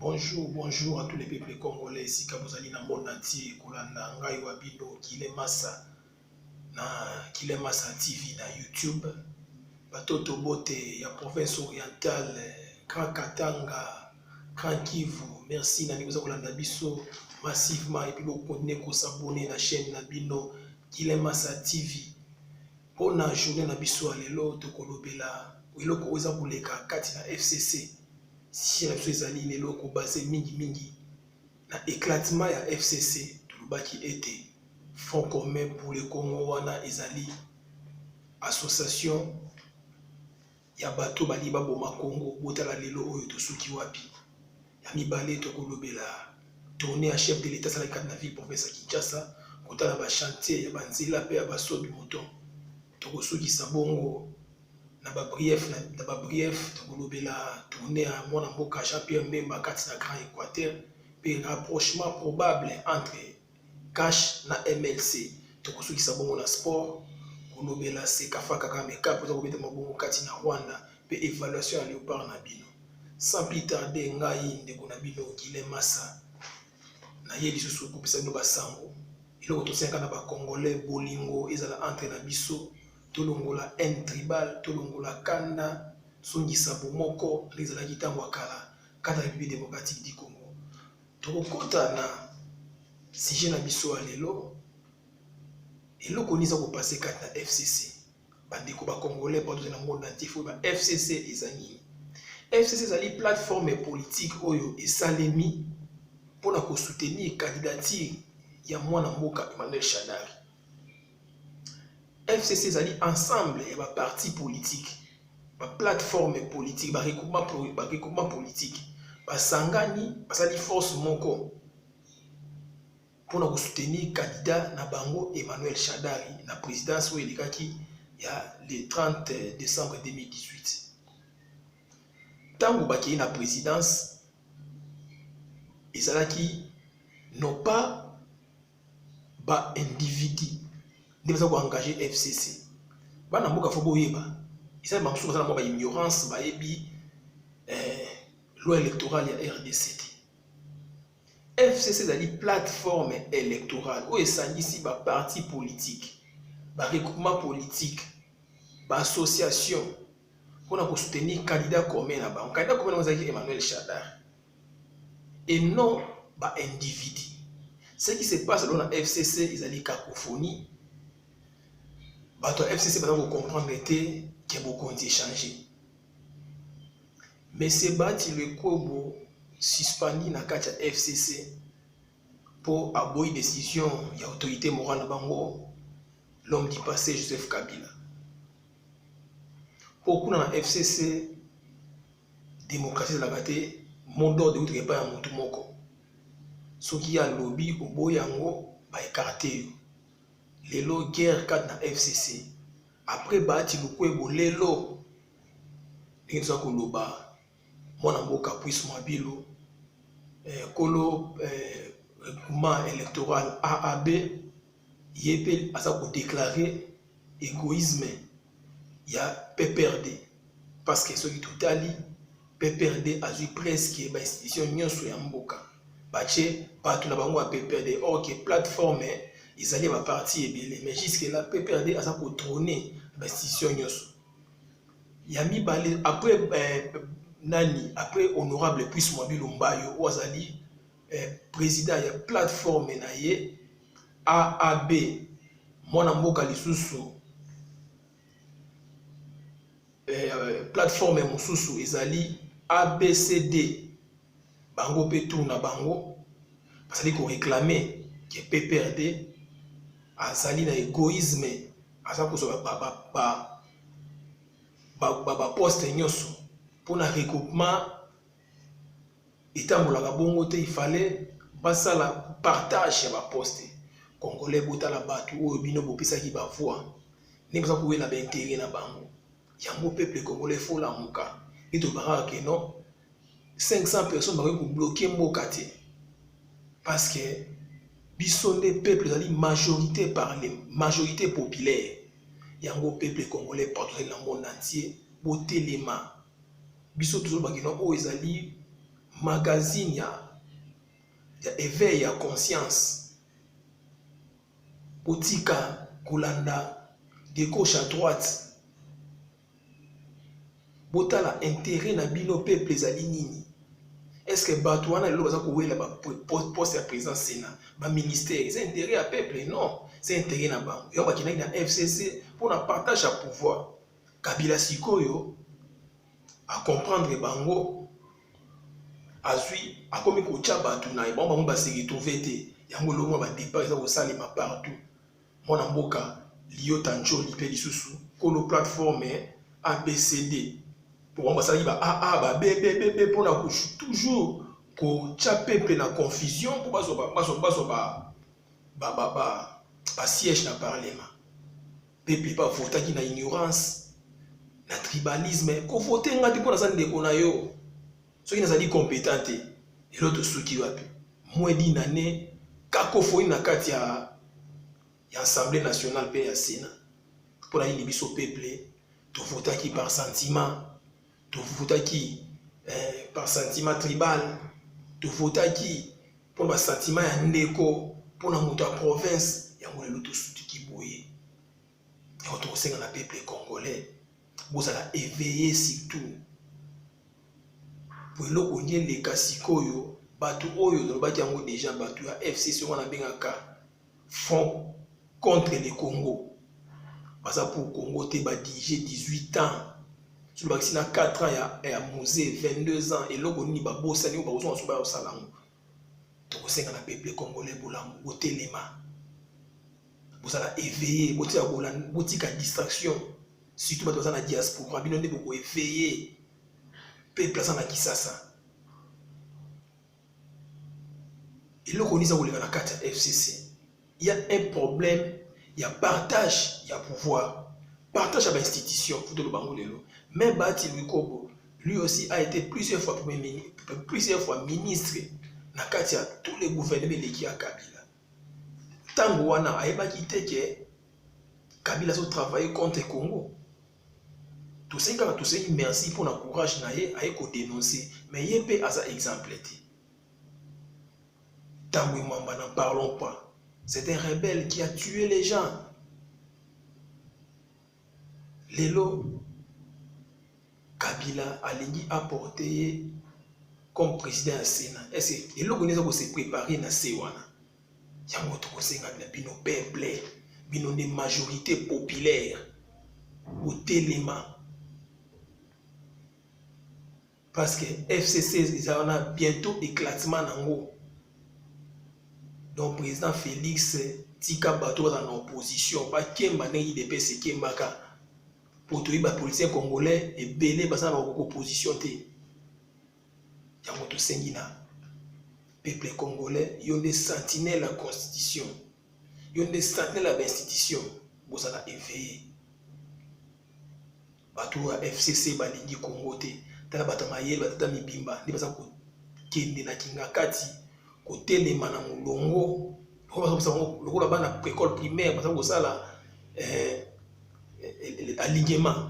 Bonjour bonjour à tous les peuples congolais esika bozali na monde entier kolanda ngai wa bino kile masa na kile masa tv na youtube batoto bote ya province orientale grand katanga grand kivu merci na bino boza kolanda biso massivement epuis bokontinue kosabone na chaîne na bino kile masa tv mpona journée na biso ya lelo tokolobela eloko oyo eza koleka kati na fcc Sujet na biso ezali lelo kobase mingimingi na eclatement ya FCC. Tolobaki ete Front commun pour le Congo wana ezali association ya bato balingi baboma Congo. Botala lelo oyo tosuki wapi. Ya mibale tokolobela tourne ya chef de l'Etat asalaki kati na ville province ya Kinshasa kotala ba chantier ya banzela mpe ya basodi moto tokosukisa bongo na ba brief na ba brief tokolobela tourne ya mwana mboka Jean Pierre Mbemba kati na Grand Equateur mpe rapprochement probable entre cash na MLC tokosukisa bongo na sport kolobela sekafa kaka meka mpoza kobeta mabongo kati na Rwanda mpe evaluation ya leopard na bino sans plus tarder ngai ndeko na bino Guilain Massa naye lisusu kopesa bino basango eloko tosengaka na bacongolais bolingo ezala entre na biso tolongola haine tribale, tolongola kanda, zongisa bomoko nde ezalaki ntango ya kala kati na Republique democratique du Congo. Tokokota na sujet na biso ya lelo, eloko nini eza kopase kati na FCC? Bandeko ba Congolais bato na monde entier fo ba FCC eza nini? FCC ezali plateforme politique oyo esalemi mpo na kosoutenir candidature ya mwana mboka Emmanuel Shadari. FCC ezali ensemble ya ba parti politique ba plateforme politique ba regroupement ba regroupement politique basangani basali force moko mpona kosoutenir candidat na bango Emmanuel Shadari na présidence oyo elekaki ya le 30 décembre 2018 ntango bakei na présidence ezalaki non pas ba individu nde baza koengage fcc bana mboka fo boyeba esali bango mosusu baza na mwa baignorance bayebi eh, loi électorale ya rdc te fcc ezali plateforme électorale oyo esangisi baparti politique baregroupement politique baassociation mpo na kosoutenir candidat commun na bango candidat commun na bango ezalaki emmanuel chadar et non ba individus. Ce qui se passe dans la FCC ezali cacophonie. Bato ya FCC baza kocomprendre te ke bokonzi echange. Monsieur Bati Lekobo suspendi na kati ya FCC mpo aboyi décision ya autorité morale na bango l'homme du passé Joseph Kabila. Mpo kuna na FCC Democratie ezalaka te mot d'ordre euti epai ya motu moko soki ye alobi oboyi yango ba ekarte yo lelo guerre kati na fcc après baati lukwebo lelo ndenge toza koloba mwana mboka puise mwabilu eh, kolo eh, groupement électoral aab ye mpe aza kodeklare egoisme ya PPRD parce que soki totali PPRD azwi presque ba institution nyonso ya mboka batie bato na bango ya PPRD or que plateforme ezali ba parti ebele mais jusque là PPRD aza kotrone ba institution nyonso ya mibale après eh, nani après honorable puisse mwabilu mbayo oyo azali eh, president ya plateforme na ye aab mwana mboka lisusu eh, plateforme mosusu ezali abcd bango mpe tour na bango bazali koreklame ke pprd azali na egoisme aza kozwa baposte nyonso mpo na regroupement etambolaka bongo te ifale basala partage ya baposte congolais botala bato oyo bino bopesaki bavoi nde boza kowela baintere na bango yango peuple congolais efolamuka nde tobangaka ke non 500 personnes bakoki kobloke mboka te parce que biso nde peuple ezali majorité parle majorité populaire yango peuple congolais portugais na monde entier botelema biso tozolobaki na oyo ezali magazine ya, ya eveil ya conscience botika kolanda de gauche à droite botala intérêt na bino peuple ezali nini est ce que bato wana lelo baza kowela baposte ya président sénat baministère eza intérêt ya peuple non c'est intérêt na bango yango bakendaki na fcc mpo na partage ya pouvoir Kabila sikoyo a comprendre bango azwi akomi kotya bato na ye bango bango base retrouve te yango eloko mwa badepart eza kosalema partout mwana mboka liota ncoli mpe lisusu kolo plateforme abcd mpo bango basalaki ba aa ba bebebebe mpo na toujours kotya peple na confusion mpo bazwa basiège na parlement Pepi ba votaki na ignorance, na tribalisme. Ko voter nga te mpo naza ndeko na yo. Soki nazali competent te, lelo tosuki wapi? Moins d'une année, cacophonie na kati ya ya Assemblée nationale mpe ya Sénat. Mpo na nini biso peuple tovotaki par sentiment? tofutaki eh, par sentiment tribal tofutaki mpo na basentiment ya ndeko mpo na moto ya province yango lelo tosutiki boye yango tokosenga na peuple congolais bozala eveille surtout po eloko nde eleka sikoyo bato oyo tolobaki yango deja bato ya fcc wana abengaka front contre le Congo baza pour Congo te ba dirige 18 ans soki bakisi na 4 ans ya, ya musee 22 ans eloko nini babosani oyo bakozonga soki bayosala yango tokosenga na peuple congolais bolamu botelema bozala éveillé botika botika distraction surtout bato baza na diaspora bino nde boko éveillé peuple aza na kisasa eloko nini eza koleka na kati ya fcc ya un problème ya partage ya pouvoir partage ya bainstitution futolo bango lelo mais bati lwikobo lui aussi a été plusieurs fois, premier, plusieurs fois ministre na kati ya tous les gouvernement eleki ya kabila ntango wana ayebaki te ke kabila azotravaille contre congo toseki kaka toseki merci mpo na courage na ye aye kodenonce me ye mpe aza exemple te tambwe mamba na parlons pas c'est un rebelle qui a tué les gens lelo kabila alingi aporte ye comme président ya sénat ese eloko nini eza kose prépare na se wana yango tokosenga na bino peuple bino nde majorité populaire botelema parce que fcc eza wana bientôt éclatement nango donc président félix tika bato baza na opposition bakemba ndenge idps ekembaka mpo toyebi bapoliticien congolais ebele baza na opposition te Yango tosengi na peuple congolais, yo nde sentinelle la constitution, yo nde sentinelle ya bainstitution, bozala eveille. Bato ya FCC balingi Congo te, tala bato ya mayele, batata mibimba nde baza kokende na kingakati kotelema na molongo lokola bana école primaire baza kosala eh, eh, eh, alignement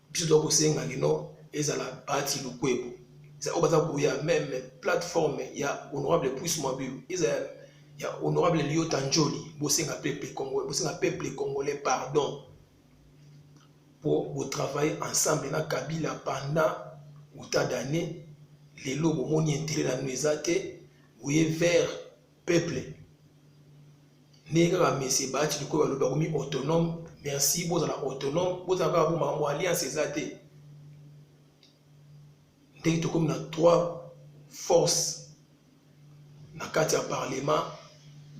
biso toza kosenga kino ezala bati lukwebo eza oyo baza koya meme plateforme ya honorable puis mabilu eza ya honorable liota njoli bosenga peuple congolais bosenga peuple congolais pardon mpo botravaille ensemble na kabila pendant uta d'année lelo bomoni intérêt na bino eza te oye vers peuple ndenge kaka mese baati likoyo balobi bakomi autonome merci bozala autonome bozala kaka bo makambo alliance eza te ndenge tokomi na trois force na kati ya parlement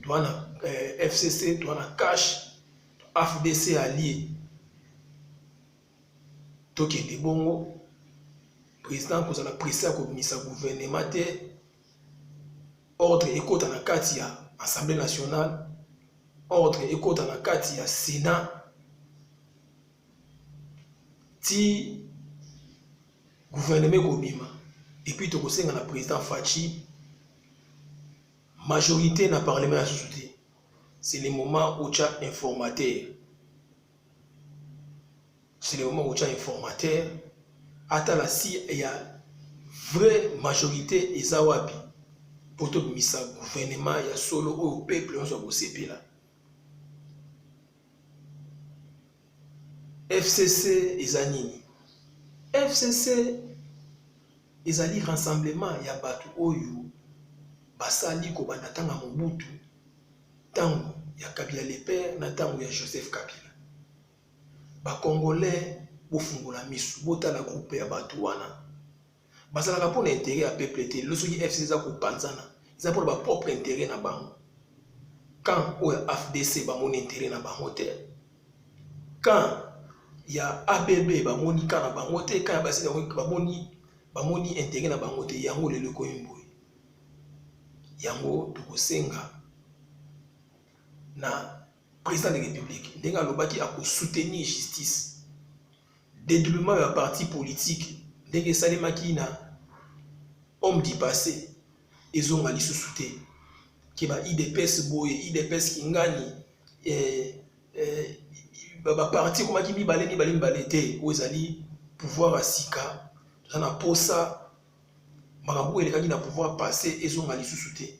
toa na eh, fcc toa na cash afdc allie tokende bongo président kozala presse ya kobimisa gouvernement te ordre ekota na kati ya assemblée nationale ordre ekota na kati ya sénat ti gouvernement ekobima epuis tokosenga na président faci majorité na parlement ya susu te c'est le moment otya informateur silema kotia informateur atala si ya vraie majorité eza wapi mpo tobimisa guvernema ya solo oyo peuple nyonso akosepela fcc eza nini fcc ezali rassemblement ya bato oyo basali kobanda ntango ya mobutu tango ya kabila le père na tango ya joseph kabila ba congolais bofungola misu botala groupe ya bato wana bazalaka mpona interet ya peuple te lelo soki fc eza kopanzana eza mpona ba propre interet na bango camp oyo ya afdc bamoni interet na bango te camp ya abb bamoni camp na bango te camp ya basili bamoni bamoni interet na bango te yango lelo ekomi mboye yango tokosenga na président de république ndenge alobaki akosoutenir justice dédoublement ya parti politique ndenge esalemaki na homme du passé ezonga lisusu te ke ba idps boye idps kingani eh, eh, baparti ekomaki mibale mibale mibale te oyo ezali pouvoir ya sika toza na mposa makambo oyo elekaki na pouvoir passé ezonga lisusu te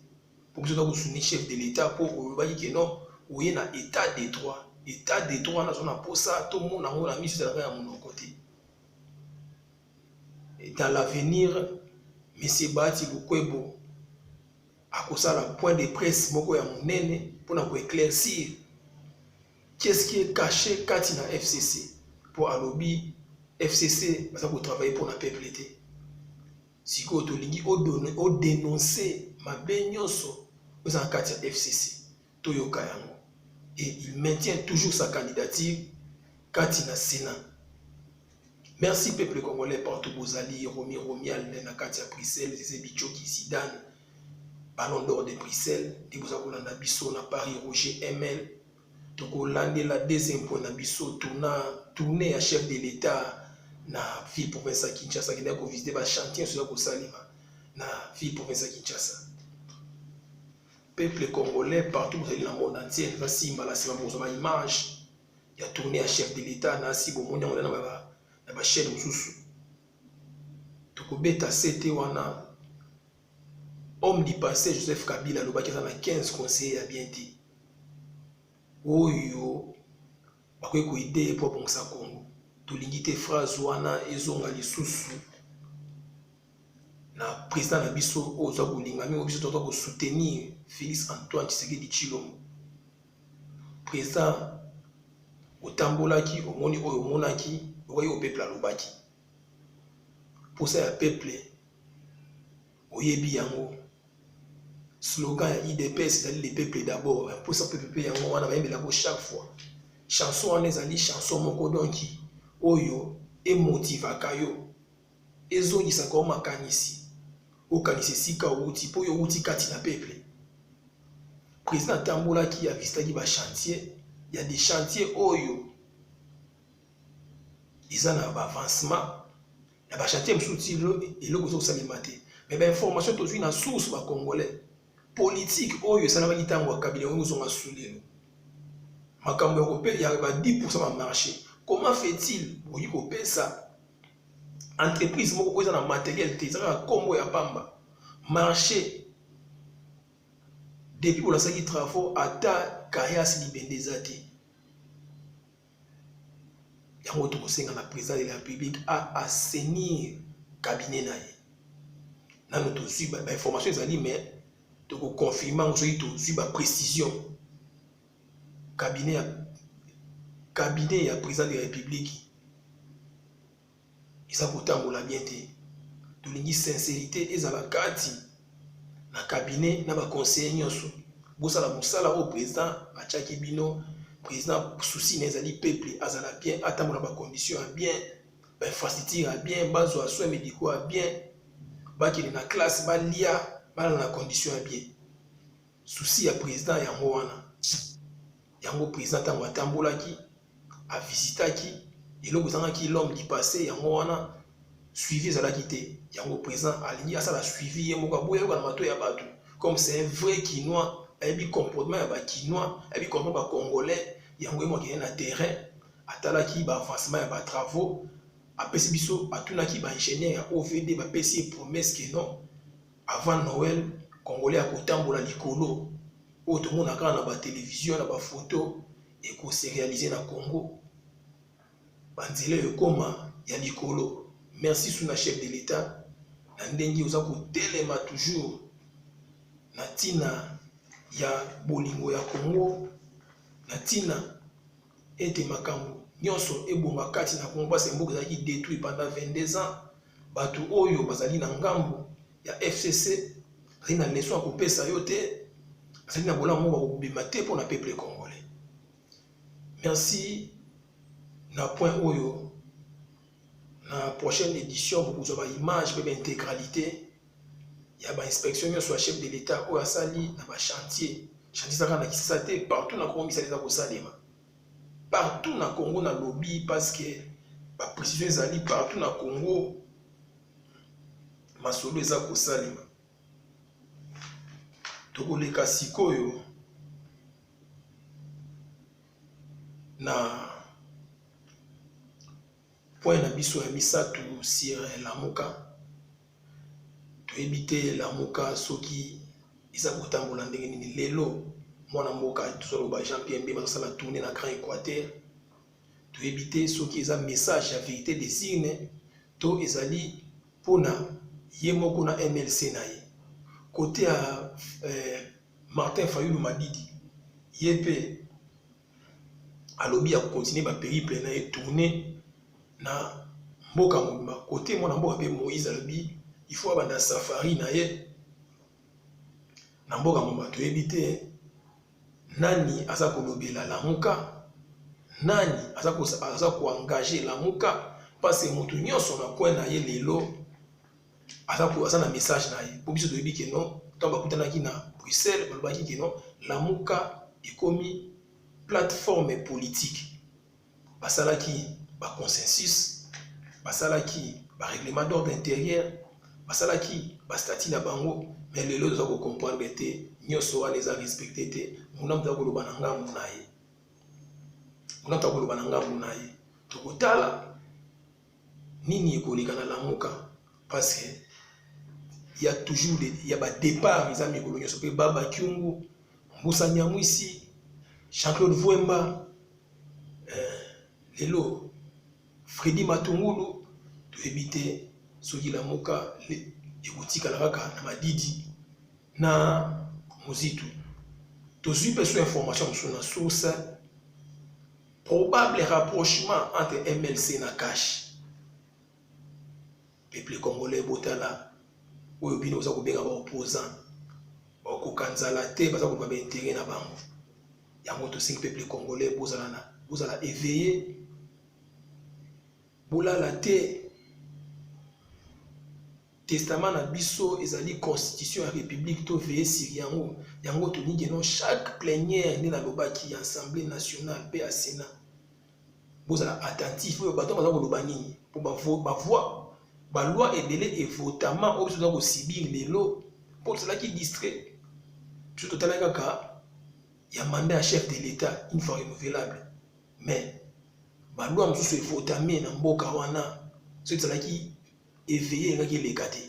mpo biso toza kosuni chef de l'état mpo olobaki ke non oye na état de droit état de droit wana aza na mposa tomona yango na miso ezalaka ya monoko te dans l'avenir monsieur bahati lukwebo akosala point de presse moko ya monene mpo na koeclaircir Qu'est ce qui est caché kati na FCC? Po alobi FCC baza ko travailler pona peuple te. Sikoyo tolingi o denoncer mabe nyonso oza na kati ya FCC toyoka yango. et il maintient toujours sa candidature kati na Sénat. Merci peuple congolais partout bozali Romi Romial na kati ya Bruxelles, Zeze Bichoki, Zidane, Ballon d'or de Bruxelles nde boza kolanda biso na Paris Roger ML tokolandela deuxième point na biso tourna tourne ya chef de l'État na ville province ya Kinshasa akendaki kovisite bachantier nyonso eza kosalema na ville province ya Kinshasa peuple congolais partout bozali na monde entier eza simba na nsima bokozwa baimage ya tourne ya chef de l'État na asi bomoni yango na bachaîne mosusu tokobeta sete wana Homme du passé Joseph Kabila alobaki aza na 15 conseillers ya bien te oyo bakoki koide ye mpo abongisa Congo. Tolingi te phrase wana ezonga lisusu na président na biso oyo oza kolinga mingi biso toza kosoutenir Félix Antoine Tshisekedi Tshilombo. Président otambolaki omoni oyo omonaki okoki kopepla alobaki posa ya peuple oyebi yango slogan ya idps ezali le peuple d'abord mposa peuple mpe yango wana bayembelako chaque fois chanson wana ezali chanson moko donki oyo emotivaka yo ezongisaka o makanisi okanisa esika outi mpo yo outi kati na peuple président atambolaki avisitaki bachantier ya dechantier oyo eza na ba avancement na ba chantier mosusu ti eloko ezo kosalema te mais ba information tozwi na source ba congolais politique oyo esalamaki ntango ya kabila yango ozonga sulelo makambo ya kope ya ba 10 pourcent ba marché comment fait-il okoki kopesa entreprise moko oyo eza na materiel te eza kaka nkombo ya pamba marché depuis bolasaki travaux ata kayas libende eza te yango tokosenga na président de la république a assainir cabinet na ye nano tozwi bainformation ezali mais tokoconfirme yango soki tozwi baprécision cabinet ya cabinet ya président de la république eza kotambola bien te tolingi sincérité ezala kati na cabinet na baconseiller nyonso bosala mosala oyo président atyaki bino président souci na ezali peuple azala bien atambola bacondition ya bien bainfrastructure ya bien bazwa soin médicaux ya bien bakende na classe balia balala na condition ya bien souci ya président yango wana yango president ntango atambolaki avisitaki eloko ezangaki l'homme du passé yango wana suivi ezalaki te yango president alingi asala suivi ye moko aboya yoka na mato ya bato comme c'est un vrai kinois ayebi comportement ya bakinois ayebi comportement bacongolais yango ye moko akende na terrain atalaki baavancement ya batravaux apesi biso atunaki baingénieur ya ovd bapesi ye promesse ke non Avant Noël, congolais akotambola likolo oyo tomona kaka na ba television na ba photo eko se realiser na Congo ba nzela ekoma ya likolo merci sous na chef de l'etat na ndenge oza kotelema toujours na ntina ya bolingo ya Congo na ntina ete makambo nyonso ebonga kati na Congo mpasi mboka ezalaki detruit pendant 22 ans Bato oyo bazali na ngambo ya FCC bazali na leso ya kopesa yo te, bazali na bolamu moko bakobima te mpo na peuple congolais. Merci na point oyo na prochaine édition bokozwa ba image mpe ba intégralité ya ba inspection nyonso ya chef de l'État oyo asali na ba chantier chantier ezaka na Kinshasa te partout na Congo misala eza kosalema. partout na Congo na lobi parce que ba precision ezali partout na Congo masolo eza kosalema tokoleka sikoyo na Point na biso ya misato sur Lamuka. Toyebi te Lamuka soki eza kotambola ndenge nini lelo. Mwana mboka tozoloba Jean Pierre Bemba azosala tourne na Grand Equateur. Toyebi te soki eza message ya verite des urnes to ezali mpona ye moko na MLC na ye. Kote ya eh, Martin Fayulu Madidi ye mpe alobi ya kokontinue baperiple na ye tourne na mboka mobimba kote mwana mboka mpe moïse alobi ifo abanda safari na ye na mboka mobimba toyebi te nani aza kolobela lamuka nani aza koengage lamuka mpasi moto nyonso na kwe na ye lelo aza ko aza na message na ye po biso toyebi ke non ntango bakutanaki na bruxelles balobaki ke non lamuka ekomi plateforme politique basalaki baconsensus basalaki barèglement d'ordre intérieur basalaki bastatut na bango mais lelo toza kocomprendre te nyonso wana eza respecte te munamu toza koloba na ngambu na ye munamu toza koloba na ngambu na ye tokotala nini ekoleka na lamuka parce que ya toujours de, ya ba départ eza mikolo nyonso mpe baba kiungu mbusa nyamwisi jean claude vuemba eh, lelo fredi matungulu toyebi te soki lamuka ekotikala kaka na madidi na mozitu tozwi mpe so information mosusu na source Probable rapprochement entre MLC na cash. Peuple congolais botala oyo bino oza kobenga ba opposant bakoka nzala te baza koluka baintere na bango yango tosengi peuple congolais bozala na bozala éveillé bolala te Testament na biso ezali constitution ya republique to veye sur yango yango tolingi non chaque plenière nde nalobaki ya assemblée nationale mpe ya sénat bozala attentif oyo bato baza koloba nini mpo bavoi baloi ebele evotama oyo biso toza kosibir lelo mpo tozalaki distrait biso totala kaka ya mandat ya chef de l'état une fois renouvelable mais baloi mosusu evotame na mboka wana soki ezalaki eveille engaki eleka te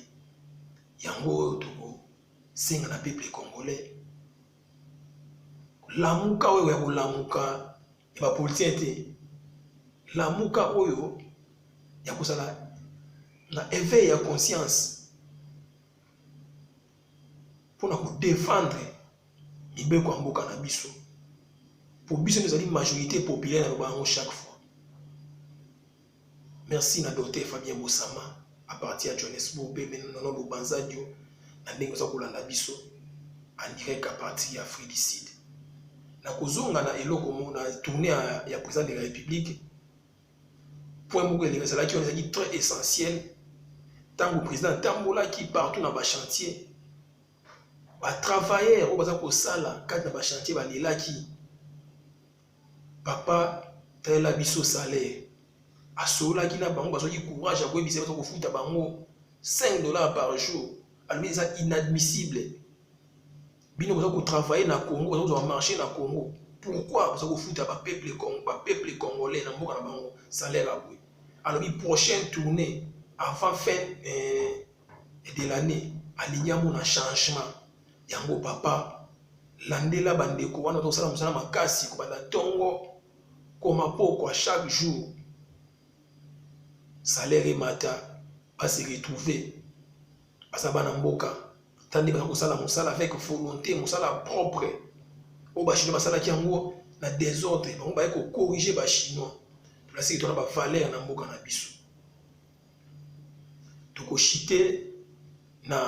yango oyo tokosenga na peuple congolais lamuka oyo ya kolamuka ya bapolitien te lamuka oyo ya kozala na eveil ya conscience mpona kodefendre mibeko ya mboka na biso mpo biso nde ezali majorité populaire na loba yango chaque fois Merci na Docteur Fabien Bosama à partir ya Johannesburg mpe mpe nono bobanzadio na ndenge oza kolanda biso en direct à partir ya Afrique du Sud. Na kozonga na eloko moko na tournée ya, ya président de la République, point moko elingi ezalaki wana ezalaki très essentiel ntango président atambolaki partout na bachantier batravailleur oyo baza kosala kati na bachantier balelaki papa talela biso salaire asololaki na bango bazwaki courage ya koyebisa baza kofuta bango 5 dollars par jour alobi eza inadmissible bino boza kotravaille na congo boza kozwa marché na congo pourquoi boza kofuta bapeuple bapeuple congolais na mboka na bango salaire aboye alobi prochaine tournée avant fin eh, de l'année alingi amona changement yango papa landela bandeko wana tozosala mosala makasi kobanda ntongo koma pokwa chaque jour salaire emata base retrouve baza bana mboka tande bana kosala mosala avec volonté mosala propre oyo bachinois basalaki yango na desordre bango baye kocorrige bachinois tolasiki tona bavaleur na mboka na biso toko chite na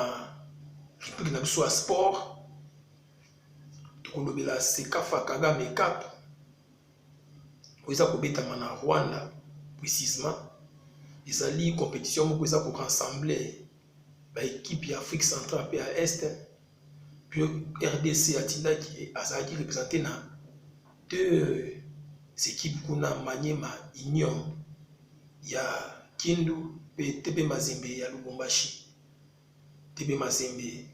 rubrique na biso ya sport tokolobela sekafa kagame cup oyo eza kobetama na rwanda precisement ezali compétition moko eza korassembler baekipe ya afrique centrale mpe ya este Puis RDC atindaki azalaki represente na deux équipes kuna Maniema Union ya Kindu pe TP Mazembe ya Lubumbashi. TP Mazembe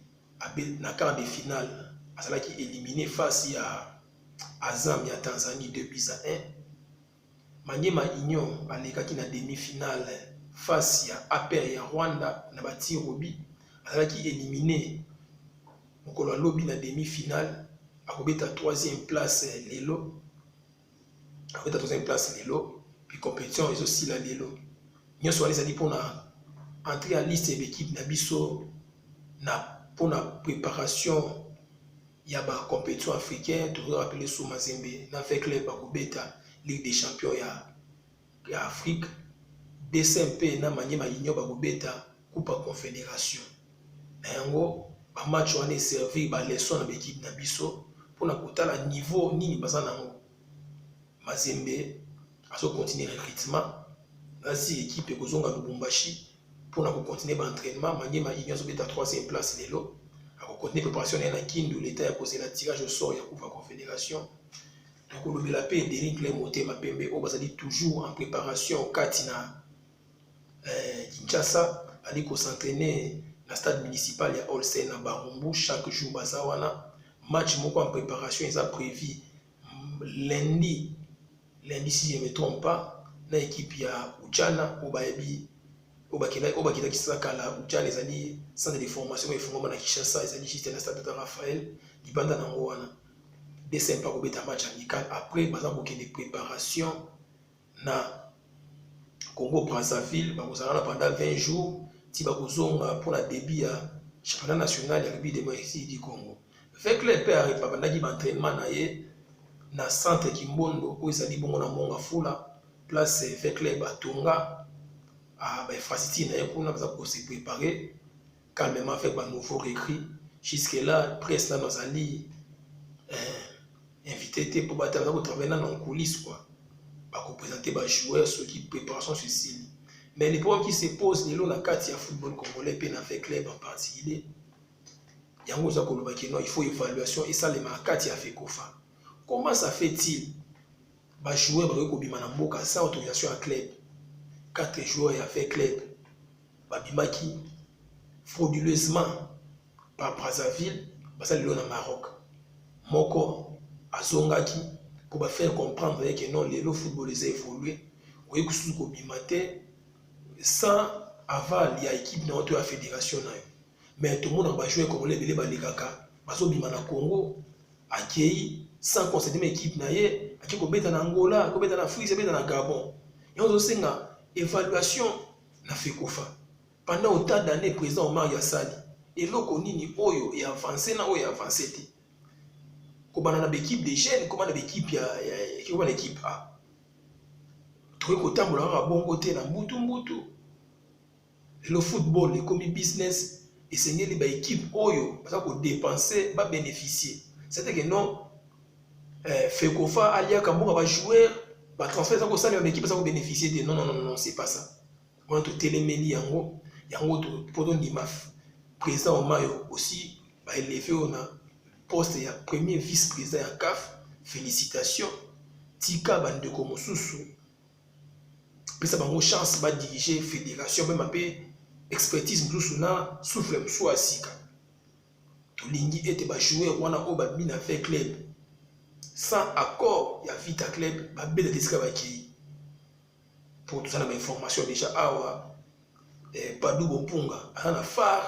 na quart de finale azalaki éliminer face ya Azam ya Tanzanie 2 buts à 1. Maniema Union balekaki na demi-finale face ya APR ya Rwanda na ba tirs au but. Azalaki elimine mokolo ya lobi na demi-finale, akobeta troisième place lelo, akobeta troisième place lelo, puis compétition ezosila lelo. Nyonso wana ezali mpona entrée ya liste ya ekipe na biso na mpona préparation ya ba competition africain tozo rappeler sous Mazembe na V club akobeta Ligue des champions ya ya Afrique DCMP na Maniema Union bakobeta Coupe ya Confederation na yango ba match wana eservir ba leçon na ba equipe na biso mpona kotala niveau nini baza nango Mazembe azo continuer recrutement nasi equipe ekozonga Lubumbashi mpo na kocontinue baentrainement maniema union azobeta 3e place lelo akocontinue préparation na ye na kindu leta ya kozela tirage au sort ya coupe ya confédération tokolobela mpe denis cle motema pembe oyo bazali toujours en préparation kati na eh, kinshasa ali kosentraine na stade municipal ya olsen na barumbu chaque jour baza wana match moko en préparation eza prévu lundi lundi si je me trompe pas na ekipe ya Uchana oyo bayebi oyo bakendaki oyo bakendaki sasa kala Uchana ezali centre de formation oyo efungwama na Kinshasa ezali juste na stade Tata Raphaël libanda na yango wana DSM pa kobeta match amical après baza kokende préparation na Congo Brazzaville bakozala na pendant 20 jours ti bakozonga mpo na début ya championnat national ya rugby démocratique du Congo. Vekle mpe abandaki ba entraînement na ye na centre Kimbondo oyo ezali bongo na Monga Fula place Vekle Batonga ba infrastructure na ye kuna baza ko se préparer calmement avec ba nouveau recrue jusque là presse nano azali eh, invité te mpo bato baza kotravaille nano en coulisse quoi bakopresente bajoueur soki préparation susili mais le problème qui se pose lelo na kati ya football congolais mpe na fait club en particulier yango oza koloba kino il faut évaluation esalema na kati ya fekofa comment ça fait-il Ba joueurs bakoki kobima na mboka sans autorisation ya club. 4 joueurs ya fait club babimaki frauduleusement par Brazzaville basali lelo na Maroc. Moko azongaki pour ba faire comprendre que non lelo football eza évoluer oye kususu kobima te sans aval ya équipe na yo to ya fédération na yo. mais tomona ba joueurs congolais ebele balekaka bazobima na Congo akei sans concéder ma équipe na ye akei kobeta na Angola kobeta na Afrique abeta na Gabon yango tozosenga évaluation na fekofa pendant autant d'année président Omar Yassali eloko nini oyo e avancer na oyo e avancer te kobanda na baekipe de jeunes kobanda baekipe ya, ya, ya, kobanda ekipe a tokoki kotambola kaka bongo te na mbutu mbutu Lelo football ekomi business, esengeli ba equipe oyo baza ko depenser ba beneficier. C'est que non eh, Fekofa aliaka mboka ba joueurs ba transfert eza kosalema ba equipe eza ko beneficier te. Non non non non, c'est pas ça. Wana totelemeli yango yango to po tondima président Omayo aussi ba eleve oyo na poste ya premier vice président ya CAF. Félicitations, tika bandeko mosusu pesa bango chance ba diriger federation meme mpe expertise mosusu na souffle mosusu ya sika tolingi ete bajoueur wana oyo babina fait club sans accord ya vita club babela te esika bakei mpo toza na bainformation déjà awa eh, padu bopunga aza na phare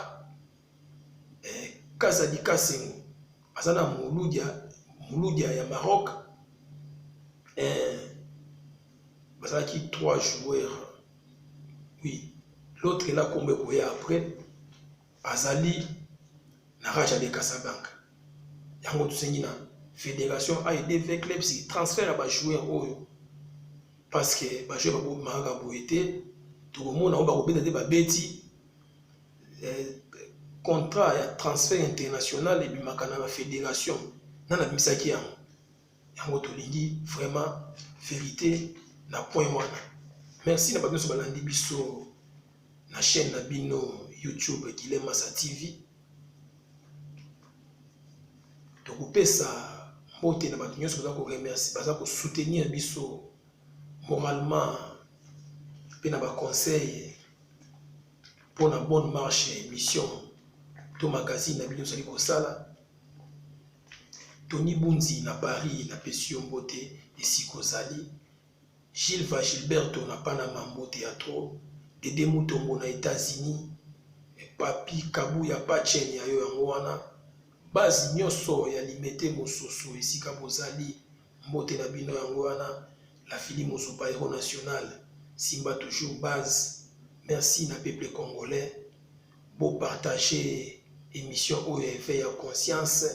eh, Kazadi Kasengo aza na muludia muludia ya Maroc eh, bazalaki trois joueurs oui l'autre ena kombo ekoya après azali na raja de Casablanca yango tosengi na fédération aide v clubs transfert ya bajoueur oyo parce que bajoueur bakomakaka boye te tokomona oyo bakobeta te babeti eh, contrat ya transfert international ebimaka na bafederation nani abimisaki yango yango tolingi vraiment verité na point wana merci na bato nyonso balandi biso na chaîne na bino youtube gilemasa tv tokopesa mbote na bato nyonso baza koremercie baza kosoutenir biso moralement mpe na baconseil mpo na bonne marche ya émission to magazine na bino ozali kosala tony bunzi na paris napesi yo mbote esika ozali gilva gilberto na panama mbote ya tro dede mutombo na états-unis papi kabu ya pachene ya yo yango wana base nyonso ya limete mosusu esika bozali Mbote na bino yango wana la filimu super hero national simba toujours base merci na peuple congolais bo partage emission oyo ya effet ya conscience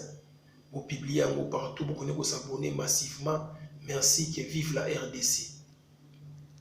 bo publie yango partout bokone ko s'abonner massivement merci que vive la rdc